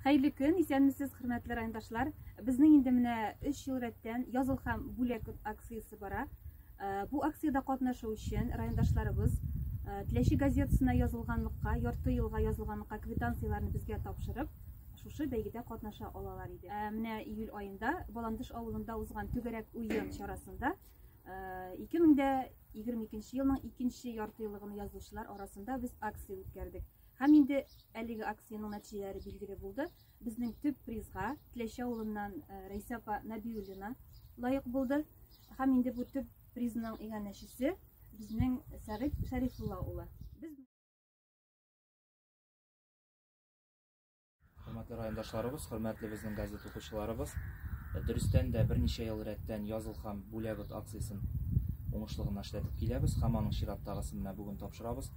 Хәерле көн, исәнмесез, хөрмәтле райондашлар. Безнең инде менә 3 ел рәттән языл һәм бүләк акциясе бара. Э, бу акциядә катнашу өчен райондашларыбыз э, Теләче газетасына язылганлыкка, ярты елга язылганлыкка квитанцияләрне безгә тапшырып, шушы бәйгедә катнаша алалар иде. Э, менә июль аенда Баландыш авылында узган түгәрәк уен чарасында 2022 елның 2 ярты еллыгын язучылар арасында без акция үткәрдек. Һәм инде әлеге акциянең нәтиҗәләре билгеле булды. Безнең төп призга Тләчә авылыннан э, Рәйсә апа Нәбиуллина лаек булды. Һәм инде бу төп призның иганәчесе безнең Сәгыйть Шәрифулла улы. Без Хөрмәтле райондашларыбыз, хөрмәтле безнең газет укучыларыбыз, дөрестән дә берничә ел рәттән Языл һәм Бүләбет акциясен уңышлы гына эшләтеп киләбез һәм аның чираттагысын менә бүген тапшырабыз.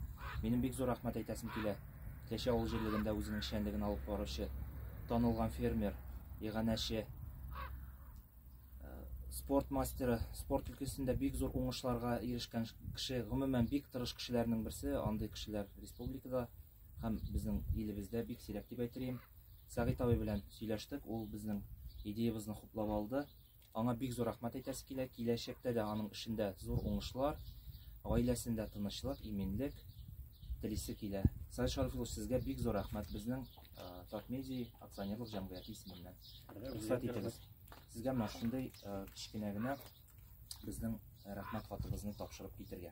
Минем бик зур рәхмәт әйтәсем килә. Кәче авыл җирлегендә үзенең эшчәнлеген алып баручы танылган фермер, иганәче, спорт мастеры, спорт өлкәсендә бик зур уңышларга ирешкән кеше, гомумән бик тырыш кешеләрнең берсе, андый кешеләр республикада һәм безнең илебездә бик сирәк дип әйтелгән. Сәгыйть абый белән сөйләштек, ул безнең идеябызны хуплап алды. Аңа бик зур рәхмәт әйтәсе килә. Киләчәктә дә аның эшендә зур уңышлар, гаиләсендә тынычлык, иминлек телисе килә. Сәгыйть Шариф улы, сезгә бик зур рәхмәт безнең Татмедиа акционерлык җәмгыяте исеменнән. Рөхсәт итегез. Сезгә менә шундый кечкенә генә безнең рәхмәт хатыбызны тапшырып китергә.